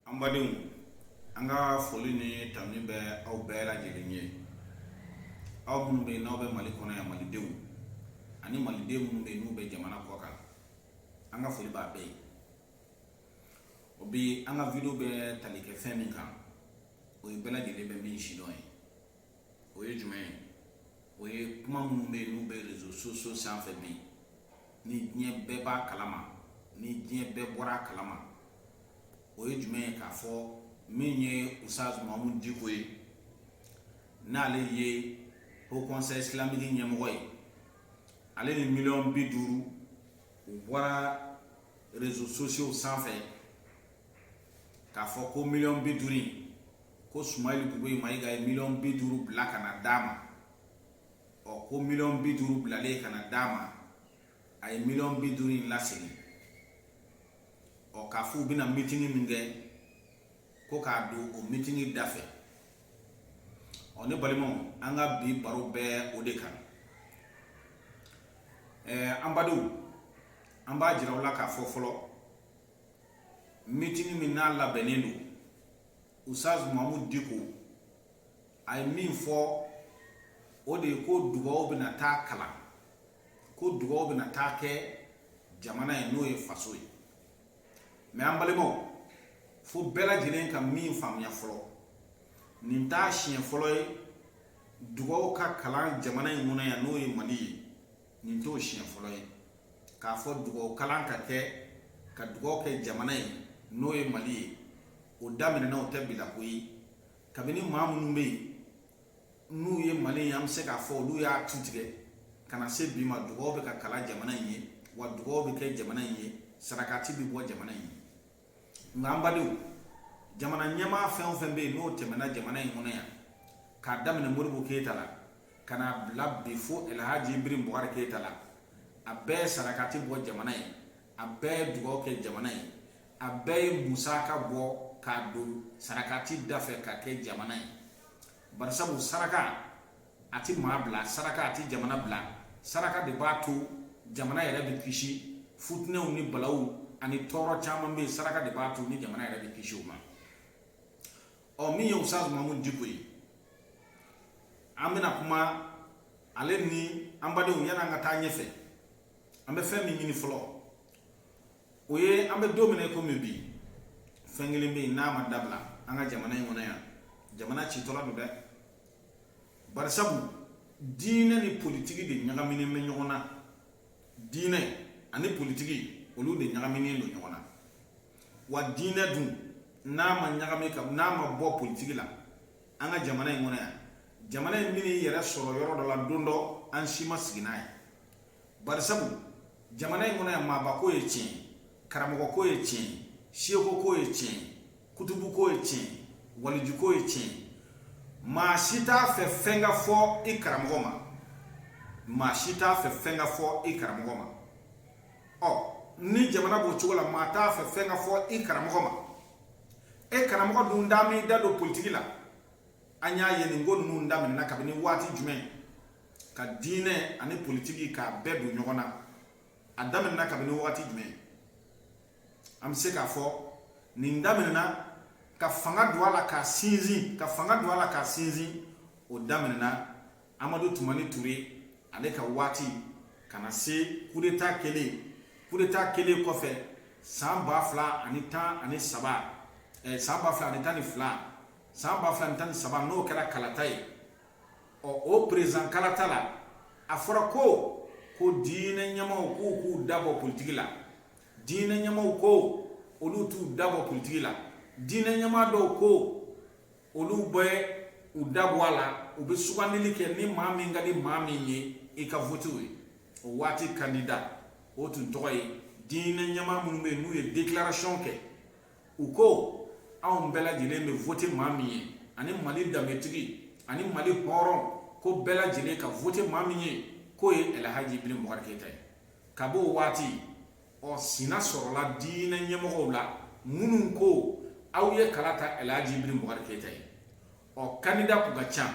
An badenw an ka foli ni tanuni bɛ aw bɛɛ lajɛlen ye aw minnu bɛ n'aw bɛ mali kɔnɔ yan malidenw ani malidenw minnu bɛ n'u bɛ jamana kɔkan an ka foli b'a bɛɛ ye o bi an ka video bɛ tali kɛ fɛn min kan o ye bɛɛ lajɛlen bɛ min sidɔn ye o ye jumɛn ye o ye kuma minnu bɛ yen n'u bɛ rezo sosiyo sanfɛ bi ni diɲɛ bɛɛ b'a kalama ni diɲɛ bɛɛ bɔra a kalama o ye jumɛn ye k'a fɔ min ye Ustaz Mahamud Diko ye n'ale ye hokɔnsɛyi isilamiki ɲɛmɔgɔ ye ale ni miliyɔn bi duuru u bɔra rezo sosiyo sanfɛ k'a fɔ ko miliyɔn bi duuru ko Sumeyilu Bubɛyi Mayiga ye miliyɔn bi duuru bila ka na d'a ma ɔ ko miliyɔn bi duuru bilalen ka na d'a ma a ye miliyɔn bi duuru in lasegin ɔ k'a fɔ u bɛna mitini min kɛ ko k'a don o mitini da fɛ ɔ ne balimaw an ka bi baro bɛ o de kan ɛɛ an badenw an b'a jira aw la k'a fɔ fɔlɔ mitini min n'a labɛnnen don Ustaz Mahamud Diko a ye min fɔ o de ye ko dugawu bɛna taa kalan ko dugawu bɛna taa kɛ jamana ye n'o ye faso ye mɛ an balimaw fo bɛɛ lajɛlen ka min faamuya fɔlɔ nin t'a siɲɛ fɔlɔ ye dugawu ka kalan jamana in kɔnɔ yan n'o ye mali ye nin t'o siɲɛ fɔlɔ ye k'a fɔ dugawu kalan ka kɛ ka dugawu kɛ jamana ye n'o ye mali ye o daminɛna o tɛ bi la ko ye kabini maa minnu bɛ yen n'u ye mali ye an bɛ se k'a fɔ olu y'a tu tigɛ ka na se bi ma dugawu bɛ ka kalan jamana in ye wa dugawu bɛ kɛ jamana in ye sarakati bɛ bɔ jamana in ye nka an badenw jamana ɲɛmaa fɛn o fɛn bɛ yen n'o tɛmɛna jamana in kɔnɔ yan k'a daminɛ Modibo keyita la ka n'a bila bi fo alhaji Ibrahim Bubakari keyita la a bɛɛ ye sarakati bɔ jamana ye a bɛɛ ye dugawu kɛ jamana ye a bɛɛ ye musaka bɔ k'a don sarakati da fɛ ka kɛ jamana ye barisabu saraka a tɛ maa bila saraka a tɛ jamana bila saraka de b'a to jamana yɛrɛ bɛ kisi futinɛw ni balaw ani tɔɔrɔ caman bɛ yen saraka de b'a to ni jamana yɛrɛ bɛ kisi o ma ɔ min ye Ustaz Mahamud Diko ye an bɛna kuma ale ni an badenw yan'an ka taa ɲɛfɛ an bɛ fɛn min ɲini fɔlɔ o ye an bɛ don min na komi bi fɛn kelen bɛ yen n'a ma dabila an ka jamana in kɔnɔ yan jamana citɔla don dɛ barisabu diinɛ ni politiki de ɲagaminen bɛ ɲɔgɔn na diinɛ ani politiki olu de ɲagaminen don ɲɔgɔn na wa diinɛ dun n'a ma ɲagami ka n'a ma bɔ politiki la an ka jamana in kɔnɔ yan jamana in bɛna i yɛrɛ sɔrɔ yɔrɔ dɔ la don dɔ an si ma sigi n'a ye barisabu jamana in kɔnɔ yan maaba ko ye tiɲɛ karamɔgɔ ko ye tiɲɛ seko ko ye tiɲɛ kutubu ko ye tiɲɛ waliju ko ye tiɲɛ maa si t'a fɛ fɛn ka fɔ i karamɔgɔ ma maa si t'a fɛ fɛn ka fɔ i karamɔgɔ ma ɔ ni jamana b'o cogo la maa t'a fɛ fɛn ka fɔ i karamɔgɔ ma e karamɔgɔ dun da m'i da don politiki la an y'a ye nin ko ninnu daminɛna kabini waati jumɛn ka diinɛ ani politiki k'a bɛɛ don ɲɔgɔn na a daminɛna kabini wagati jumɛn an bɛ se k'a fɔ nin daminɛna ka fanga don a la k'a sinsin ka fanga don a la k'a sinsin o daminɛna amadu tumani ture ale ka waati ka na se kudeta kɛlen kudeta kɛlen kɔfɛ san ba fila ani tan ani saba eh, san ba fila ani tan ni fila san ba fila ani tan ni saba n'o kɛra kalata ye ɔ o peresidan kalata la a fɔra ko ko diinɛ ɲɛmaaw k'u k'u dabɔ politiki la diinɛ ɲɛmaaw ko olu t'u dabɔ politiki la diinɛ ɲɛmaa dɔw ko olu bɛ u dabɔ a la u bɛ sugandili kɛ ni maa min ka di maa min ye i ka vote o ye o waati kandida o tun tɔgɔ ye diinɛ ɲɛmaa minnu bɛ yen n'u ye déclaration kɛ u ko anw bɛɛ lajɛlen bɛ vote maa min ye ani mali danbetigi ani mali hɔrɔn ko bɛɛ lajɛlen ka vote maa min ye k'o ye ɛlɛhaji ibrahim bubakari keyita ye ka b'o waati ɔ sina sɔrɔla diinɛ ɲɛmɔgɔw la minnu ko aw ye kala ta ɛlɛhaji ibrahim bubakari keyita ye ɔ kandida kun ka ca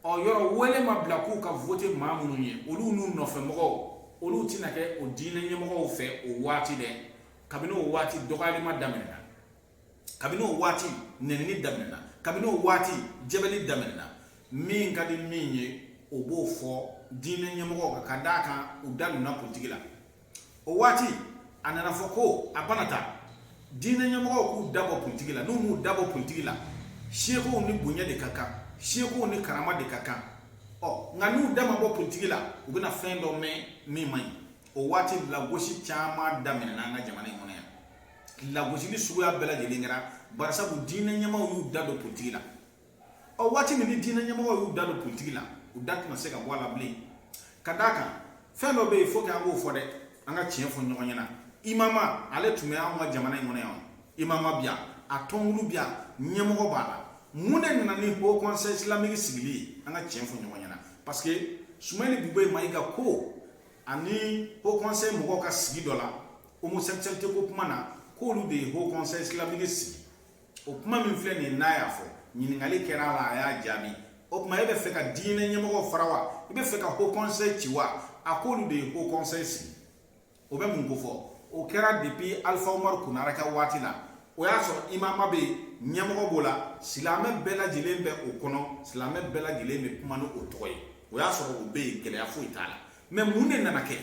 o yɔrɔ wele ma bila k'u ka vote maa minnu ye olu n'u nɔfɛmɔgɔw olu tɛna kɛ o diinɛ ɲɛmɔgɔw fɛ o waati dɛ kabini o waati dɔgɔyalima daminɛna kabini o waati nenini daminɛna kabini o waati jɛbɛli daminɛna min ka di min ye o b'o fɔ diinɛ ɲɛmɔgɔw kan ka d'a kan u da donna politiki la o waati a nana fɔ ko a bana ta diinɛ ɲɛmɔgɔw k'u dabɔ politiki la n'u m'u dabɔ politiki la sekow ni bonya de ka kan sekow ni karama de ka kan ɔ nka n'u da ma bɔ politiki la u bɛna fɛn dɔ mɛn min man ɲi o waati lagosi caman daminɛna an ka jamana in kɔnɔ yan lagosili suguya bɛɛ lajɛlen kɛra barisabu diinɛ ɲɛmaaw y'u da don politiki la ɔ waati min ni diinɛ ɲɛmɔgɔw y'u da don politiki la u da tɛna se ka bɔ a la bilen ka d'a kan fɛn dɔ bɛ yen fo k'an k'o fɔ dɛ an ka tiɲɛ fɔ ɲɔgɔn ɲɛna imama ale tun bɛ anw ka jamana in kɔnɔ yan imama bɛ yan a tɔnkulu bɛ yan ɲɛmɔgɔ b'a la mun de nana ni haut conseil islamique sigili ye an ka tiɲɛ fɔ ɲɔgɔn ɲɛna parce que sumayilu bubɛyi mayiga ko ani haut conseil mɔgɔw ka sigi dɔ la homosexualité ko kuma na k'olu de ye haut conseil islamique sigi o kuma min filɛ nin ye n'a y'a fɔ ɲininkali kɛra a la a y'a jaabi o tuma e bɛ fɛ ka diinɛ ɲɛmɔgɔw fara wa i bɛ fɛ ka haut conseil ci wa a k'olu de ye haut conseil sigi o bɛ mun kofɔ o kɛra depuis alpha umaru konare ka waati la o y'a sɔrɔ imama bɛ yen ɲɛmɔgɔ b'o la silamɛ bɛɛ lajɛlen bɛ o kɔnɔ silamɛ bɛɛ lajɛlen bɛ kuma ni o tɔgɔ ye o y'a sɔrɔ o bɛ yen gɛlɛya foyi t'a la mais mun de nana kɛ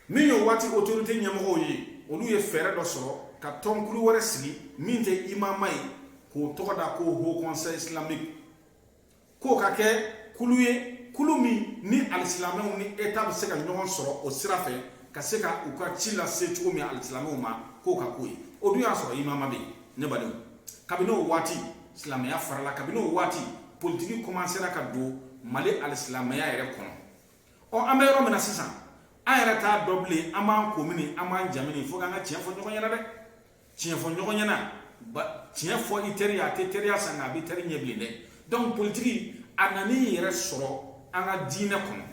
min y'o waati autorité ɲɛmɔgɔw ye olu ye fɛɛrɛ dɔ sɔrɔ ka tɔnkulu wɛrɛ sigi min tɛ imama ye k'o tɔgɔ da ko haut conseil islamique k'o ka kɛ kulu ye kulu min ni alisilamɛw ni état bɛ se ka ɲɔgɔn sɔrɔ o sira fɛ ka se ka u ka ci lase cogo min alisilamɛw ma k'o ka k'o ye o dun y'a sɔrɔ imama bɛ yen ne badenw kabini o waati silamɛya farala kabini o waati politiki kɔmansera ka don mali alisilamɛya yɛrɛ kɔnɔ ɔ an bɛ yɔrɔ min na sisan an yɛrɛ t'a dɔn bilen an b'an ko mini an b'an ja mini fo k'an ka tiɲɛ fɔ ɲɔgɔn ɲɛna dɛ tiɲɛ fɔ ɲɔgɔn ɲɛna tiɲɛ fɔ i teri ye a tɛ teriya sa nka a bɛ teri ɲɛ bilen dɛ donc politiki a nana i yɛrɛ sɔrɔ an ka diinɛ kɔnɔ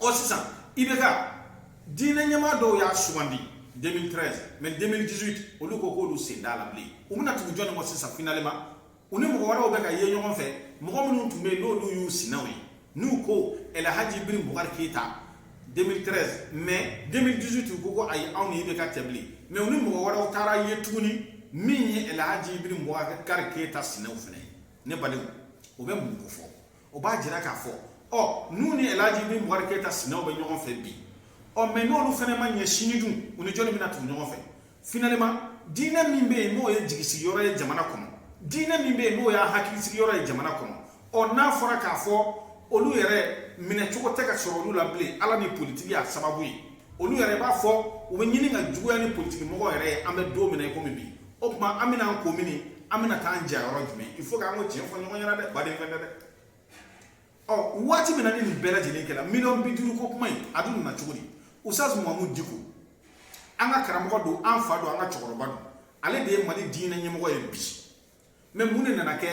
ɔ sisan IBK diinɛ ɲɛmaa dɔw y'a sugandi 2013 mais 2018 olu ko k'olu sen t'a la bilen u bɛna tugu jɔni kɔ sisan finalement u ni mɔgɔ wɛrɛw bɛ ka ye ɲɔgɔn fɛ mɔgɔ minnu tun bɛ yen n'olu y'u sinaw ye n'u ko El Hadji Ibrahim Bubakari Keyita 2013 mais 2018 u ko ko ayi anw ni IBK tɛ bilen mais u ni mɔgɔ wɛrɛw taara ye tuguni min ye El Hadji Ibrahim Bubakari Keyita sinaw fana ye ne badenw o bɛ mun kofɔ o b'a jira k'a fɔ ɔ n'u ni elaji ibrahim bubakari keyita sinaw bɛ ɲɔgɔn fɛ bi ɔ mais n'olu fana ma ɲɛ sini dun u ni jɔnni bɛna tugu ɲɔgɔn fɛ finalement diinɛ min bɛ yen n'o ye jigisigi yɔrɔ ye jamana kɔnɔ diinɛ min bɛ yen n'o y'a hakilisigi yɔrɔ ye jamana kɔnɔ ɔ n'a fɔra k'a fɔ olu yɛrɛ minɛ cogo tɛ ka sɔrɔ olu la bilen ala ni politiki y'a sababu ye olu yɛrɛ b'a fɔ u bɛ ɲini ka juguya ni politiki mɔgɔ yɛrɛ ye an bɛ don min na i komi bi o tuma an bɛna an ko mini an bɛna taa an ja yɔrɔ jumɛn il faut k'an ka tiɲɛ fɔ ɲɔgɔn ɲɛna dɛ baden fɛn tɛ dɛ ɔ waati min na ni nin bɛɛ lajɛlen kɛra miliyɔn bi duuru ko kuma in a dun nana cogo di ustaz mahamudu diko an ka karamɔgɔ don an fa don an ka cɛkɔrɔba don ale de ye mali diinɛ ɲɛmɔgɔ ye bi mais mun de nana kɛ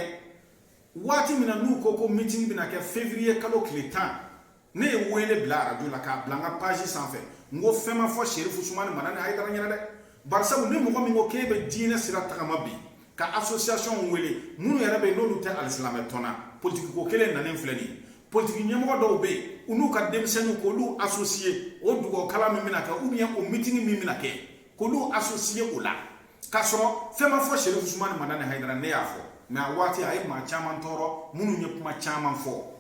waati min na n'u ko ko meeting bɛna kɛ février kalo tile tan ne ye wele bila arajo la k'a bila n ka page sanfɛ n ko fɛn ma fɔ serifu usumani madani hayidara ɲɛna dɛ barisabu ni mɔgɔ min ko k'e bɛ diinɛ sira tagama bi ka association wele minnu yɛrɛ bɛ yen n'olu tɛ alisilamɛ tɔn na politiki ko kelen nanen filɛ nin ye politiki ɲɛmɔgɔ dɔw bɛ yen u n'u ka denmisɛnninw k'olu associer o dugawukalan min bɛna kɛ ou bien o mitini min bɛna kɛ k'olu associer o la k'a sɔrɔ fɛn ma fɔ serifu usumani madani hayidara ne y'a fɔ mais a waati a ye maa caman tɔɔrɔ minnu ye kuma caman fɔ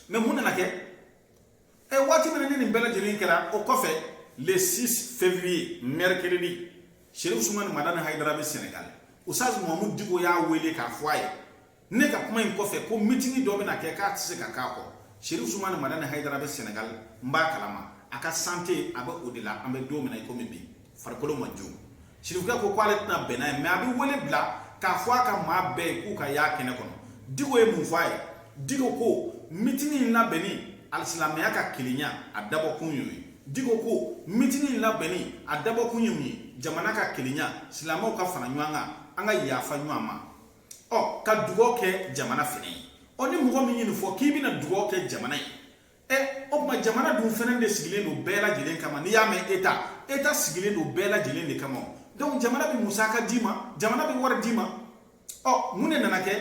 mais mun nana kɛ ɛ waati min ni nin bɛɛ lajɛlen kɛra o kɔfɛ le 6 février mercredi sherif usumani madani hayidara bɛ senegal usaz mahamud diko y'a wele k'a fɔ a ye ne ka kuma in kɔfɛ ko mitini dɔ bɛna kɛ k'a tɛ se ka k'a kɔ sherif usumani madani hayidara bɛ senegal n b'a kalama a ka santé a bɛ o de la an bɛ don min na i komi bi farikolo ma jo Sirifukɛ ko k'ale tɛna bɛn n'a ye mais a bɛ wele bila k'a fɔ a ka maa bɛɛ ye k'u ka y'a kɛnɛ kɔnɔ diko ye mun fɔ a ye diko ko mitini in labɛnni alisilamɛya ka kelenya a dabɔkun y'o ye diko ko mitini in labɛnni a dabɔkun ye mun ye jamana ka kelenya silamɛw ka fara ɲɔgɔn kan an ka yafa ɲɔgɔn ma ɔ ka dugaw kɛ jamana fɛnɛ ye ɔ ni mɔgɔ min ye nin fɔ k'i bɛna dugaw kɛ jamana ye ɛ o tuma jamana dun fɛnɛ de sigilen don bɛɛ lajɛlen kama n'i y'a mɛn état état sigilen don bɛɛ lajɛlen de kama donc jamana bɛ musaka d'i ma jamana bɛ wari d'i ma ɔ mun de nana kɛ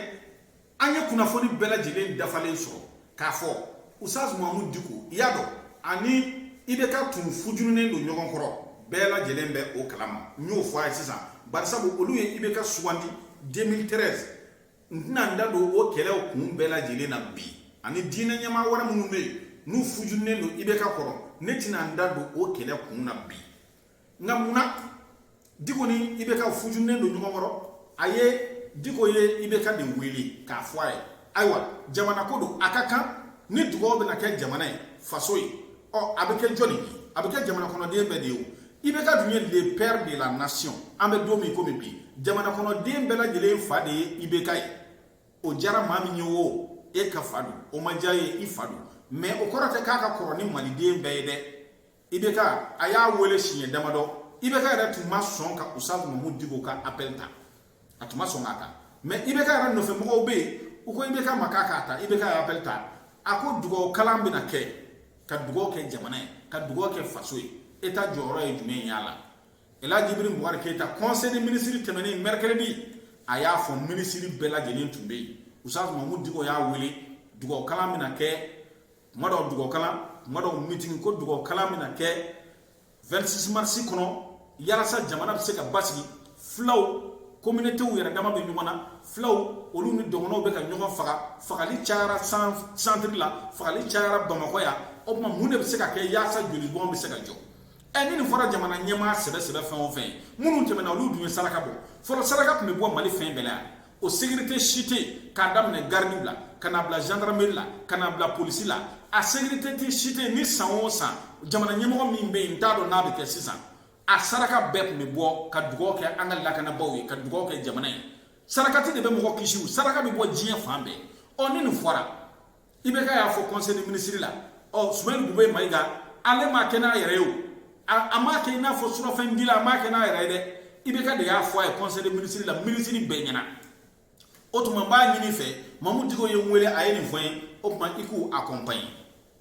an ye kunnafoni bɛɛ lajɛlen dafalen sɔrɔ k'a fɔ usaz mahamud diko i y'a dɔn ani IBK tun fujurunen don ɲɔgɔn kɔrɔ bɛɛ lajɛlen bɛ o kalama n y'o fɔ a ye sisan barisabu olu ye IBK sugandi 2013 n tɛna n da don o kɛlɛw kun bɛɛ lajɛlen na bi ani diinɛ ɲɛmaa wɛrɛ minnu bɛ yen n'u fujunen don IBK kɔrɔ ne tɛna n da don o kɛlɛ kun na bi nka mun na diko ni IBK fujunen don ɲɔgɔn kɔrɔ a ye diko ye IBK de wele k'a fɔ a ye ayiwa jamana ko don a ka kan ni dugaw bɛna kɛ jamana ye faso ye ɔ a bɛ kɛ jɔni ye a bɛ kɛ jamana kɔnɔden bɛɛ de ye o IBK dun ye le père de la nation an bɛ don min komi bi jamana kɔnɔden bɛɛ lajɛlen fa de ye IBK ye o diyara maa min ye o e ka fa don o ma diya ye i fa don mais o kɔrɔ tɛ k'a ka kɔrɔ ni maliden bɛɛ ye dɛ IBK a y'a wele siɲɛ damadɔ IBK yɛrɛ tun ma sɔn ka usaz mahamud diko ka appel ta a tun ma sɔn k'a ta mais IBK yɛrɛ nɔfɛ mɔgɔw bɛ yen u ko IBK ma k'a k'a ta IBK y'appel ta a ko dugawu kalan bɛna kɛ ka dugawu kɛ jamana ye ka dugawu kɛ faso ye e ta jɔyɔrɔ ye jumɛn y'a la elaji ibrahim bubakari keyita conseil des ministres tɛmɛnen mercredi a y'a fɔ minisiri bɛɛ lajɛlen tun bɛ yen usaz mahamud diko y'a wele dugawu kalan bɛna kɛ tuma dɔw dugawu kalan tuma dɔw mitini ko dugawu kalan bɛna kɛ 26 mars kɔnɔ yalasa jamana bɛ se ka basigi fulaw communautéw yɛrɛ dama bɛ ɲɔgɔn na fulaw olu ni dɔgɔnɔw bɛ ka ɲɔgɔn faga fagali cayara centre la fagali cayara bamakɔ yan o tuma mun de bɛ se ka kɛ yaasa jolibɔn bɛ se ka jɔ ɛ ni nin fɔra jamana ɲɛmaa sɛbɛ sɛbɛ fɛn o fɛn minnu tɛmɛna olu dun ye saraka bɔ fɔlɔ saraka tun bɛ bɔ mali fɛn bɛɛ la yan o sécurité si tɛ yen k'a daminɛ garidiw la ka na bila gendarmerie la ka na bila polisi la a sécurité tɛ si tɛ yen ni san o san jamana ɲɛmɔgɔ min bɛ yen n t'a dɔn n'a bɛ kɛ sisan a saraka bɛɛ tun bɛ bɔ ka dugawu kɛ an ka lakanabaaw ye ka dugawu kɛ jamana ye sarakati de bɛ mɔgɔ kisi saraka bɛ bɔ diɲɛ fan bɛɛ ɔ ni nin fɔra IBK y'a fɔ conseil de ministre la ɔ sumayilu bube mayiga ale m'a kɛ n'a yɛrɛ ye o a m'a kɛ i n'a fɔ surafɛn dila a m'a kɛ n'a yɛrɛ ye dɛ IBK de y'a fɔ a ye conseil de ministre la ministre bɛɛ ɲɛna o tuma n b'a ɲini fɛ mamu diko ye n wele a ye nin fɔ n ye o tuma i k'u accompagne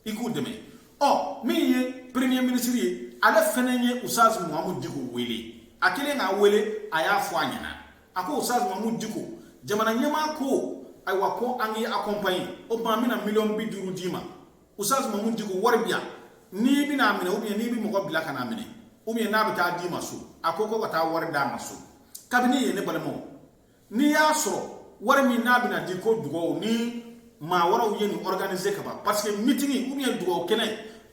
i k'u dɛmɛ ɔ min ye premier ministre ye ale fɛnɛ ye usaz mamu diko wele a kɛlen k'a wele a y'a fɔ a ɲɛna a ko Usaz Mamu Diko jamana ɲɛmaa ko ayiwa ko an k'i accompagne o tuma an bɛna miliyɔn bi duuru d'i ma Usaz Mamu Diko wari bɛ yan n'i bɛ na a minɛ ou bien n'i bɛ mɔgɔ bila ka n'a minɛ ou bien n'a bɛ taa d'i ma so a ko ko ka taa wari d'a ma so kabini yen ne balimaw n'i y'a sɔrɔ wari min n'a bɛna di ko dugawu ni maa wɛrɛw ye nin organiser ka ban parce que meeting ou bien dugawu kɛnɛ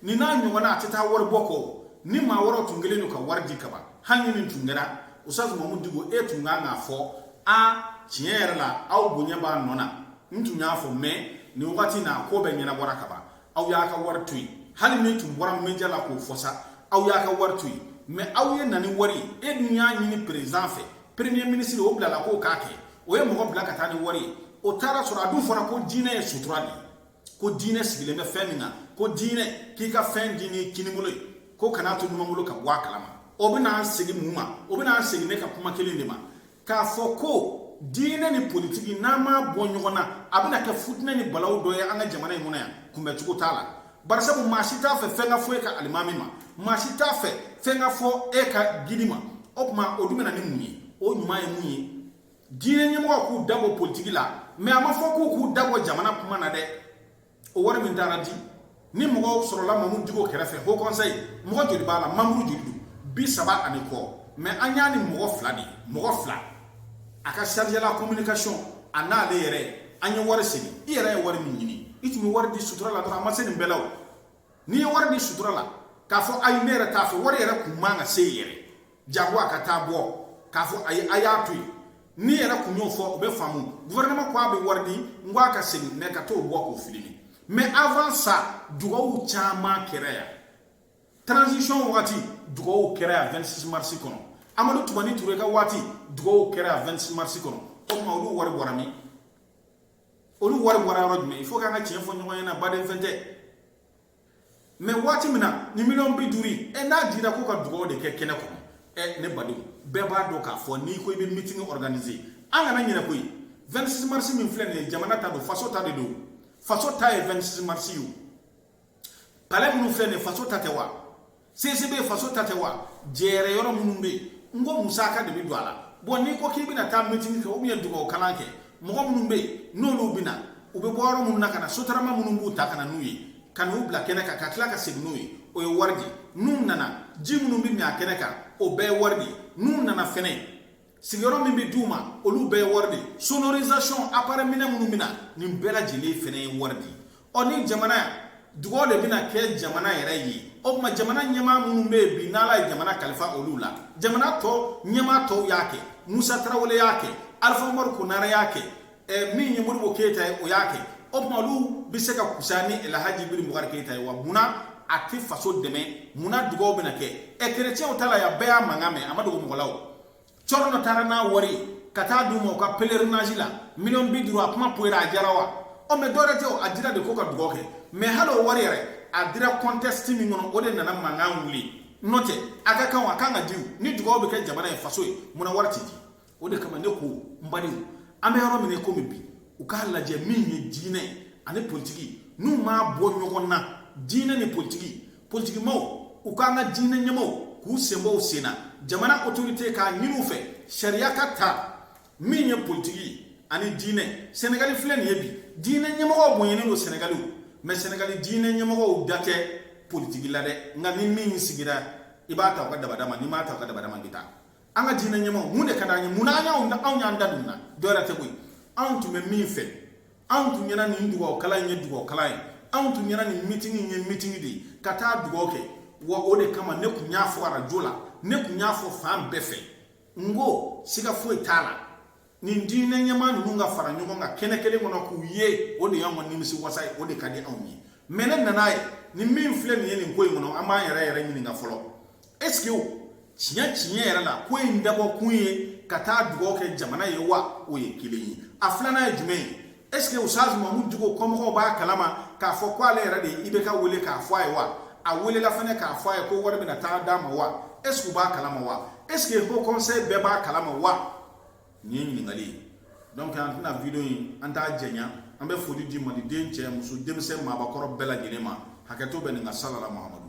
ni n'a ɲɔgɔnna a tɛ taa wari bɔ kɔ ni maa wɛrɛw tun kɛlen don ka wari di ka ban hali ni nin tun kɛra usaz mamu diko e tun kan k'a fɔ a tiɲɛ yɛrɛ la aw bonya b'a nɔ na n tun y'a fɔ mɛ nin wagati na ko bɛɛ ɲɛnabɔra ka ban aw y'a ka wari to yen hali n'i tun bɔra média la k'o fɔ sa aw y'a ka wari to yen mɛ aw ye na ni wari ye e dun y'a ɲini perezan fɛ premier minisiri o bilala k'o k'a kɛ o ye mɔgɔ bila ka taa ni wari ye o taara sɔrɔ a dun fɔra ko diinɛ ye sutura de ye ko diinɛ sigilen bɛ fɛn min kan ko diinɛ k'i ka fɛn di ni kinibolo ye ko kana to numanbolo ka bɔ a kalama o bɛna an segin mun ma o bɛna an segin ne ka kuma kelen de ma k'a fɔ ko diinɛ ni politiki n'an m'a bɔ ɲɔgɔn na a bɛna kɛ futinɛ ni balawu dɔ ye an ka jamana in kɔnɔ yan kunbɛcogo t'a la barisabu maa si t'a fɛ fɛn ka fɔ e ka alimami ma maa si t'a fɛ fɛn ka fɔ e ka guide ma o tuma o dun bɛna ni mun ye o ɲuman ye mun ye diinɛ ɲɛmɔgɔw k'u da bɔ politiki la mɛ a ma fɔ k'u k'u da bɔ jamana kuma na dɛ o wari min taara di ni mɔgɔw sɔrɔla mamu diko kɛrɛfɛ haut conseil mɔgɔ joli b'a la manburu joli don bi saba ani kɔ mɛ an y'a ni mɔgɔ fila de mɔgɔ fila a ka chargé de la communication a n'ale yɛrɛ an ye wari segin i yɛrɛ ye wari min ɲini i tun bɛ wari di sutura la dɔrɔn a ma se nin bɛɛ la o n'i ye wari di sutura la k'a fɔ ayi ne yɛrɛ t'a fɛ wari yɛrɛ kuma ka se yɛrɛ jago a ka taa bɔ k'a fɔ a ye a y'a to yen n'i yɛrɛ kun y'o fɔ o bɛ faamu gouvernement ko a bɛ wari di n ko a ka segin mɛ ka t'o bɔ k'o filimi mais avant ça dugawu caman kɛra yan transition wagati dugawu kɛra yan 26 mars kɔnɔ amadu tumani ture ka waati dugawu kɛra yan 26 mars kɔnɔ o tuma olu wari bɔra min olu wari bɔra yɔrɔ jumɛn il faut k'an ka tiɲɛ fɔ ɲɔgɔn ɲɛna baden fɛn tɛ mais waati min na ni miliyɔn bi duuru ye ɛ n'a dira ko ka dugawu de kɛ kɛnɛ kɔnɔ ɛ ne badenw bɛɛ b'a dɔn k'a fɔ n'i ko i bɛ meeting organiser an kana ɲinɛ koyi 26 mars min filɛ nin ye jamana ta don faso ta de don faso ta ye 26 mars ye o palais minnu filɛ nin ye faso ta tɛ wa CCB faso ta tɛ wa jɛrɛ yɔrɔ minnu bɛ yen n ko musaka de bɛ don a la bɔn n'i ko k'i bɛna taa meeting kɛ ou bien dugawu kalan kɛ mɔgɔ minnu bɛ yen n'olu bɛ na u bɛ bɔ yɔrɔ minnu na ka na sotarama minnu b'u ta ka na n'u ye ka n'u bila kɛnɛ kan ka tila ka segin n'u ye o ye wari de ye n'u nana ji minnu bɛ min a kɛnɛ kan o bɛɛ ye wari de ye n'u nana fɛnɛ sigiyɔrɔ min bɛ d'u ma olu bɛɛ ye wari de ye sonorisation appareil minɛn minnu bɛ na nin bɛɛ lajɛlen fɛnɛ ye wari de ye ɔ ni jamana dugaw de bɛna kɛ jamana yɛrɛ ye o kuma jamana ɲɛmaa minnu bɛ yen bi n'ala ye jamana kalifa olu la jamana tɔ ɲɛmaa tɔw y'a kɛ musa tarawele y'a kɛ alifa umaru konare y'a kɛ ɛ min ye modibo keyita ye o y'a kɛ o kuma olu bɛ se ka kusa ni alhaji ibrahim bubakari keyita ye wa munna a tɛ faso dɛmɛ munna dugaw bɛna kɛ ɛ kerecɛnw ta la yan bɛɛ y'a mankan mɛn a ma dogo mɔgɔ la o cɔrɔ dɔ taara n'a wari ye ka taa d'u ma u ka pèlerinage la miliyɔn bi duuru a kuma poyira a diyara wa ɔ mais dɔwɛrɛ tɛ o a dira de ko ka dugaw kɛ mais hali o wari yɛrɛ a dira contexte min kɔnɔ o de nana mankan wuli n'o tɛ a ka kan a kan ka di ni dugaw bɛ kɛ jamana ye faso ye munna wari tɛ di o de kama ne ko n badenw an bɛ yɔrɔ min na komi bi u k'a lajɛ min ye diinɛ ani politiki n'u m'a bɔ ɲɔgɔn na diinɛ ni politiki politikimaaw u k'an ka diinɛ ɲɛmaaw k'u sen bɔ u sen na jamana autorité k'a ɲini u fɛ sariya ka ta min ye politiki ani diinɛ sɛnɛgali filɛ nin ye bi diinɛ ɲɛmɔgɔw bonyɛnen don sɛnɛgali mais sɛnɛgali diinɛ ɲɛmɔgɔw da tɛ politiki la dɛ nka ni min sigira i bɛ taa u ka dabada ma n'i ma taa u ka dabada ma i bɛ taa an ka diinɛ ɲɛmɔgɔw mun de ka d'an ye mun na an y'anw da anw y'an da don na dɔwɛrɛ tɛ koyi anw tun bɛ min fɛ anw tun ɲɛna nin dugawu kalan in ye dugawu kalan ye anw tun ɲɛna nin meeting in ye meeting de ye ka taa dugawu kɛ wa o de kama ne kun y'a fɔ arajo la ne kun y'a fɔ fan bɛɛ fɛ n ko siga foyi t'a la nin diinɛ ɲɛmaa ninnu ka fara ɲɔgɔn kan kɛnɛ kelen kɔnɔ k'u ye o de y'anw ka nimisi wasa ye o de ka di anw ye mais ne nana ye ni min filɛ nin ye nin ko in kɔnɔ an b'an yɛrɛ yɛrɛ ɲininka fɔlɔ est-ce que tiɲɛ tiɲɛ yɛrɛ la ko in dabɔ kun ye ka taa dugawu kɛ jamana ye wa o ye kelen ye a filanan ye jumɛn ye est-ce que ustaz mahamudu dicko kɔmɔgɔw b'a kalama k'a fɔ ko ale yɛrɛ de ye ibk wele k'a fɔ a ye wa a welela fɛnɛ k'a fɔ a ye ko wari bɛna taa d'a ma wa est-ce que u b'a kalama wa est-ce que haut conseil bɛɛ b'a kalama wa nin ye ɲininkali ye donc an tɛna video in an t'a jɛnya an bɛ foli di maliden cɛ muso denmisɛn maabakɔrɔ bɛɛ lajɛlen ma hakɛto bɛ nin ka salala muhamadu